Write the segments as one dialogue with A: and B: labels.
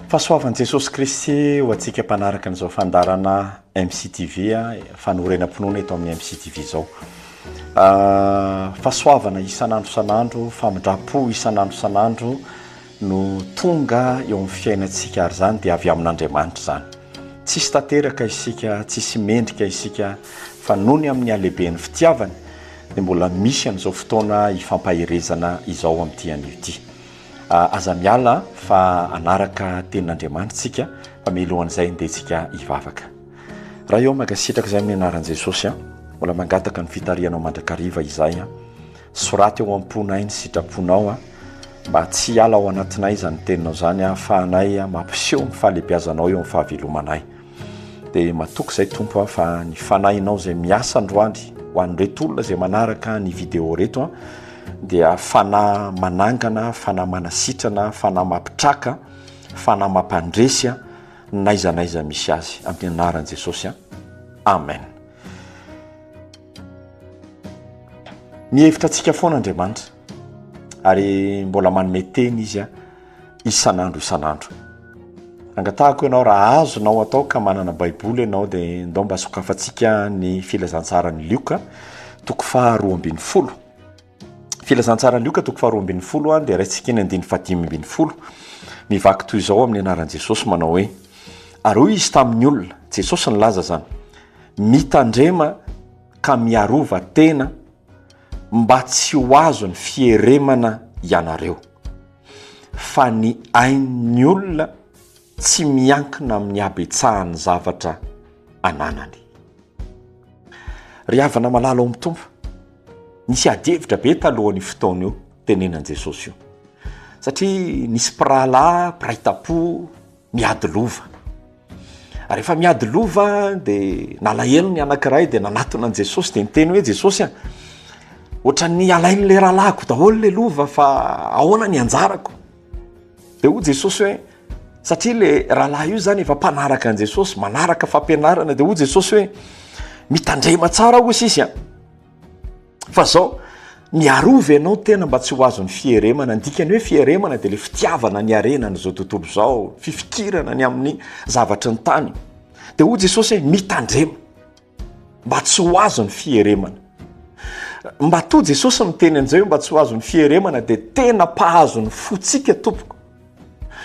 A: Fahasoavan'i Jesosy Kristy ho antsika mpanaraka an'izao fandaharana MCTV fanorenam-pinoana eto amin'ny MCTV izao. Fahasoavana isan'andro isan'andro, famindram-po isan'andro isan'andro no tonga eo amin'ny fiainantsika ary izany dia avy amin'Andriamanitra izany. Tsisy tanteraka isika, tsisy mendrika isika fa noho ny amin'ny halehiben'ny fitiavany dia mbola misy an'izao fotoana ifampaherezana izao amin'ity anio ity. Aza miala fa hanaraka tenin'Andriamanitra isika fa mialohan'izay andeha antsika hivavaka. Ray ô mankasitraka izay amin'ny anaran'i Jesosy a, mbola mangataka ny fitarihanao mandrakariva izahay a, soraty ao am-ponay ny sitraponao a, mba tsy hiala ao anatinay izany teninao izany ahafahanay mampiseho ny fahalebiazanao eo amin'ny fahavelomanay. Dia matoky izay Tompo aho fa ny Fanahinao izay miasa androany ho an'ireto olona izay manaraka ny vidéo reto an, dia Fanahy manangana, Fanahy manasitrana, Fanahy mampitraka, Fanahy mampandresy an, n'aiza n'aiza misy azy amin'ny anaran'i Jesosy an, Amen. Mihevitra antsika foana Andriamanitra ary mbola manome teny Izy an. isan'andro isan'andro. Angatahako ianao raha azonao atao ka manana Baiboly ianao dia ndao mba sokafantsika ny filazantsaran'i Lioka toko faharoa ambin'ny folo. Filazantsaran'i Lioka toko faharoa ambin'ny folo dia raintsika ny andininy fahadimy ambin'ny folo. Mivaky toy izao amin'ny anaran'i Jesosy manao hoe ary hoy izy tamin'ny olona, Jesosy nilaza izany, mitandrema ka miarova tena mba tsy ho azon'ny fieremana ianareo. fa ny ain'ny olona tsy miankina amin'ny habetsahan'ny zavatra ananany. Ry havana malala ao amin'ny Tompo, nisy adihevitra be talohan'io fotoana io tenenan'i Jesosy io. Satria nisy mpirahalahy mpiray tam-po, Miady lova. Rehefa miady lova dia nalahelo ny anankiray dia nanatona an'i Jesosy dia niteny hoe Jesosy a, ohatran'ny alain'ilay rahalahiko daholo ilay lova fa ahoana ny anjarako? Dia hoy Jesosy hoe satria ilay rahalahy io izany efa mpanaraka an'i Jesosy, manaraka fampianarana dia hoy Jesosy hoe mitandrema tsara hoy sisy a. Fa zao, miarova ianao tena mba tsy ho azon'ny fieremana. Ny dikan'ny hoe fieremana dia ilay fitiavana ny harena an'izao tontolo izao, fifikirana ny amin'ny zavatry ny tany. Dia hoy Jesosy hoe mitandrema mba tsy ho azon'ny fieremana. Matoa Jesosy miteny an'izay hoe mba tsy ho azon'ny fieremana dia tena mpahazo ny fontsika tompoko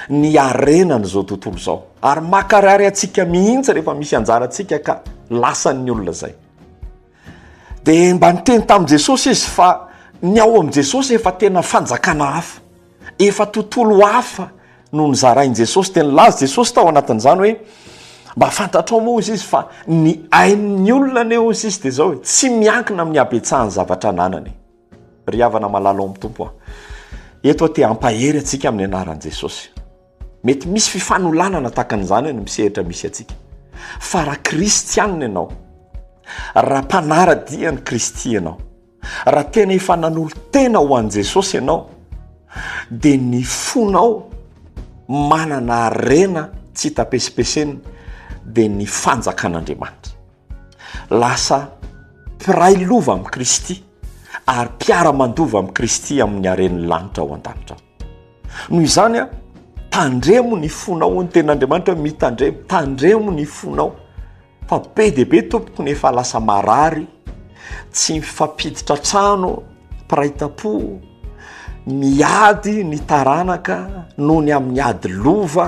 A: ny harena an'izao tontolo izao. Ary makarary antsika mihitsy rehefa misy anjarantsika ka lasan'ny olona izay. Dia mba niteny tamin'i Jesosy izy fa ny ao amin'i Jesosy efa tena fanjakana hafa, efa tontolo hafa no nozarain'i Jesosy. Dia nilaza Jesosy tao anatin'izany hoe, Mba fantatrao moa, hoy izy, fa ny ain'ny olona anie, hoy izy, dia izao e, tsy miankina amin'ny habetsahan'ny zavatra ananany e. Ry havana malala ao amin'ny Tompo a! Eto aho te hampahery antsika amin'ny anaran'i Jesosy. Mety misy fifanolanana tahaka an'izany any amin'ny sehatra misy antsika. Fa raha kristianina ianao, raha mpanara-dia an'i Kristy ianao, raha tena efa nanolo-tena ho an'i Jesosy ianao, dia ny fonao manana harena tsy hita pesipesenina, dia ny fanjakan'Andriamanitra. Lasa mpiray lova amin'i Kristy ary mpiara-mandova amin'i Kristy amin'ny haren'ny lanitra ao an-danitra ao. noho izany a tandremo ny fonao ho ny ten'andriamanitra hoe mitandremo tandremo ny fonao fa be dia be tompoko ny efa lasa marary tsy mifampiditra trano mpiray tam-po miady ny taranaka noho ny amin'ny ady lova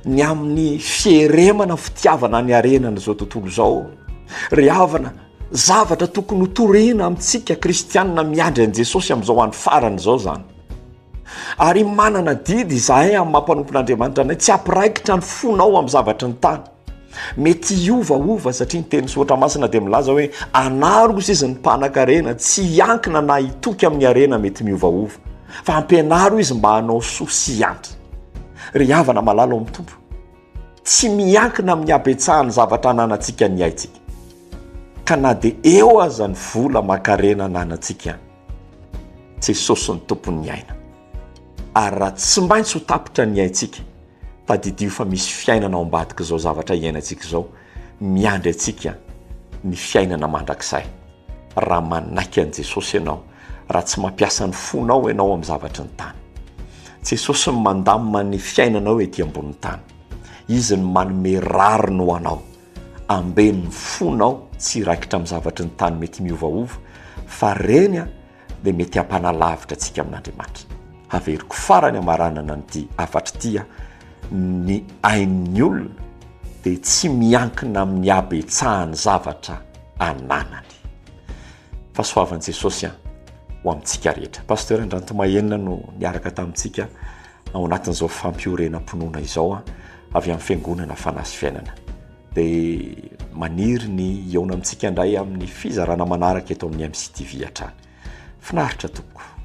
A: ny amin'ny fieremana fitiavana ny arenana izao tontolo izao ry havana zavatra tokony ho torina amintsika kristianina miandry an'i jesosy amin'izao any farana izao zany Ary manana didy izahay amin'ny maha mpanompon'Andriamanitra anay, tsy hampiraikitra ny fonao amin'ny zavatry ny tany. Mety hiovaova satria ny tenin'ny soratra masina dia milaza hoe, anaro kosa izy ny mpanankarena, tsy hiankina na hitoky amin'ny harena mety miovaova, fa ampianaro izy mba hanao soa sy hiantra. Ry havana malala ao amin'ny Tompo, tsy miankina amin'ny habetsahan'ny zavatra ananantsika ny aintsika, ka na dia eo aza ny vola aman-karena ananantsika. Jesosy no Tompon'ny aina. Ary raha tsy maintsy ho tapitra ny aintsika, tadidio fa misy fiainana ao ambadik'izao zavatra iainantsika izao, miandry antsika ny fiainana mandrakizay. Raha manaiky an'i Jesosy ianao, raha tsy mampiasa ny fonao ianao amin'ny zavatry ny tany. Jesosy no mandamina ny fiainanao ety ambonin'ny tany. Izy no manome rariny ho anao. Ambeno ny fonao tsy hiraikitra amin'ny zavatry ny tany mety miovaova, fa ireny dia mety hampanalavitra antsika amin'Andriamanitra. Haveriko farany hamaranana an'ity hafatra ity aho, ny ain'ny olona dia tsy miankina amin'ny habetsahan'ny zavatra ananany. Fahasoavan'i Jesosy ho amintsika rehetra. Pasteur Andrantomahenina no niaraka tamintsika Ao anatin'izao fampiorenam-pinoana izao avy amin'ny Fiangonana Fanahy sy Fiainana, dia maniry ny hihaona amintsika indray amin'ny fizarana manaraka eto amin'ny MCTV hatrany. Finaritra tompoko!